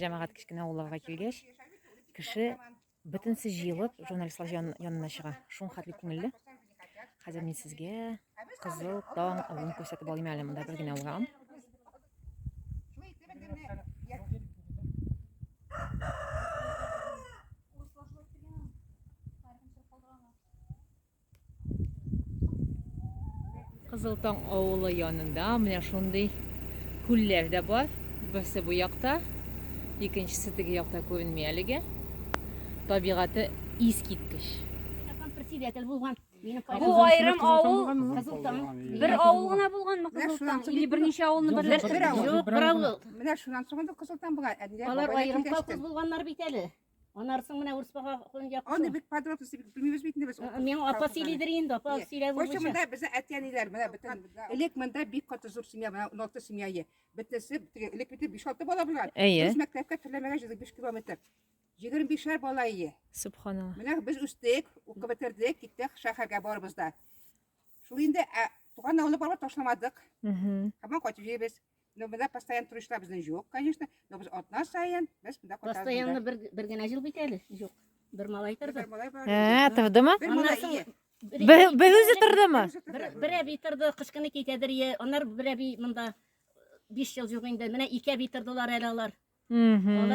Җәмәгать кечкенә авылларга килгәч, кеше бөтенесе җыелып журналистлар ян, янына чыга. Шуң хәтле күңелле. Хәзер мин сезгә Кызыл таң авылын күрсәтеп алыйм әле. Монда бер генә урам. Кызыл Таң авылы янында менә шундый күлләр дә бар. Берсе бу якта, икенчесе теге якта күренми әлегә. Табигате искиткеч. Председатель булган. Бу айрым авыл Кызыл Таң. Бер авыл гына булганмы Кызыл Таң? Или берничә авылны берләштердегез? Юк, бер авыл. Менә шуннан соң инде Кызыл Таң була. Алар аерым колхоз булганнар бит әле. Анарсың менә урыс бага якты. Аны бик подробности бик белмибез бит инде без. Мен апа сөйлидер инде, апа сөйләп була. Кайчак монда безне әтиәниләр менә бөтен элек монда бик каты зур семья, менә 16 семья ие. Бөтенесе элек бит 5-6 бала булган. Без мәктәпкә төрләмәгә җыйдык 5 километр. 25 бала ие. Субханалла. Менә без үстек, укып бетердек, киттек шәһәргә барыбыз да. Шул инде туган авылны барып ташламадык. Һәм кайтып җибез. Но бездә постоянно туристлар безнең юк, конечно, но без атна саен без монда кайтабыз. Постоянно бер бер генә җил бит әле. Юк. Бер малай торды. Бер малай бар. Ә, тордымы? Бер малай. Бер үзе тордымы? Бер әби торды, кышкыны китәдер е. Аннар бер әби монда 5 ел юк инде. Менә ике әби тордылар әле алар. Мм.